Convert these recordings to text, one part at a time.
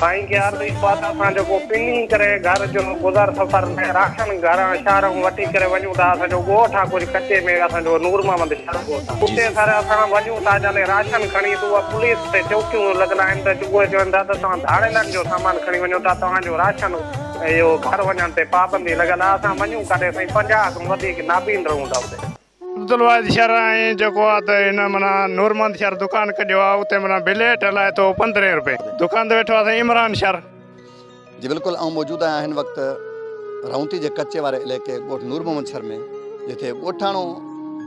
سائين ڪيار بي خواد اسان جو ڪو پني ڪري گهر جو گذر سفر ۾ راشن گهران شهرون وٺي ڪري وڃون ٿا اسان جو ڳوٺ آ ڪجهه ڪچي ۾ اسان جو نور محمد شاهه ڳوٺ آ اتي سر اسان وڃون ٿا جڏهن راشن کڻي تو پوليس تي چوڪيون لڳل آهن ته اهي چون ٿا ته توهان ڌاڙيلن جو سامان کڻي وڃو ٿا توهان جو راشن اهو گهر وڃڻ تي پابندي لڳل آ اسان وڃون ڪاڏي سائين پنجاهه کان وڌيڪ نابين رهون ٿا اتي. عبدالواحد شر ۽ جيڪو آ ته هن معنيٰ نورمحمد شر دڪان ڪڍيو آ اتي معنيٰ بل هيٺ هلائي ٿو پندرهين رپئي دڪان تي ويٺو آ سائين عمران شر. جي بلڪل آئون موجود آهيان هن وقت رهونتي جي ڪچي واري عليقي ڳوٺ نور محمد شر ۾ جتي ڳوٺاڻو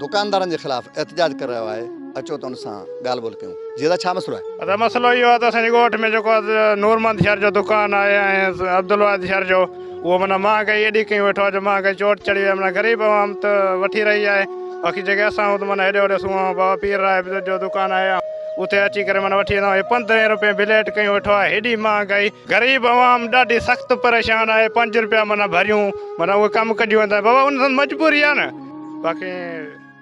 دڪاندارن جي خلاف احتجاج ڪري رهيو آهي اچو ته ان سان ڳالهه ٻولهه ڪيون جي دادا ڇا مسئلو آهي. دادا مسئلو اهو آ ته اسان جي ڳوٺ ۾ جيڪو آ ته نورمحمد شر جو دڪان آهي ۽ عبدالواحد شر جو. اهو معنيٰ مهانگائي ايڏي ڪيون ويٺو آهي جو مهانگائي چوٽ چڙهي وئي آهي معنيٰ غريب عوام ته وٺي رهي آهي باقي جيڪي اسان آهيون ته معنيٰ هيڏي هوڏي سون آهيون بابا پير راهي بزرگ جو دڪان آهي اتي اچي ڪري معنيٰ وٺي ويندا آهيون هي پندرهين روپين بليٽ ڪيون ويٺو آهي هيڏي مهانگائي غريب عوام ڏاڍي سخت پريشان آهي پنج روپيا معنيٰ ڀريون معنيٰ اهي ڪم ڪڍيون ويندا آهن بابا ان سان مجبوري آهي نه باقي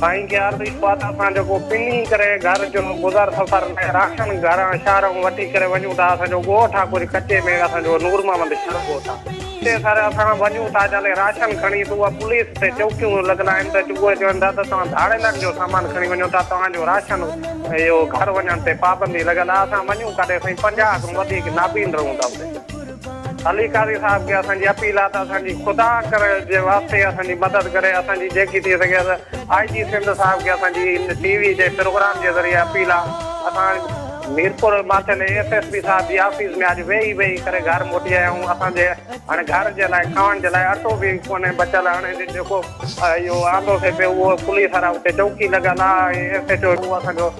سائين کي عرض اهو آهي ته اسان جيڪو پني ڪري گهر جو گذر سفر ۾ راشن گهران شهرون وٺي ڪري وڃون ٿا، اسان جو ڳوٺ آهي ڪجهه ڪچي ۾ اسان جو نور محمد شاهه ڳوٺ آهي. اتي سر اسان وڃون ٿا جڏهن راشن کڻي ته اها پوليس تي چوڪيون لڳل آهن ته اهي چون ٿا ته توهان ڌاڙيلن جو سامان کڻي وڃو ٿا توهان جو راشن اهو گهر وڃڻ تي پابندي لڳل آهي اسان وڃون ڪڏهن سائين پنجاهه کان وڌيڪ نابين رهون ٿا اتي. علي قاضي صاحب کي اسان جي اپيل آ ته اسان جي خدا ڪري جي واسطي اسان جي مدد ڪري اسان جي جيڪي ٿي سگهي ته آء جي سنڌ صاحب کي اسان جي ان ٽي وي جي پروگرام جي ذريعي اپيل آ اسان Mirpur Mathelo S S P صاحب جي آفيس ۾ اڄ ويهي ويهي ڪري گهر موٽي آيا آهيون اسان جي هاڻي گهر جي لاء کائڻ جي لاء اٽو به ڪونهي بچل هاڻي جيڪو اهو آندو سي پيو اهو پوليس وارا اتي چوڪي لڳل آ ايس ايچ او اسان جو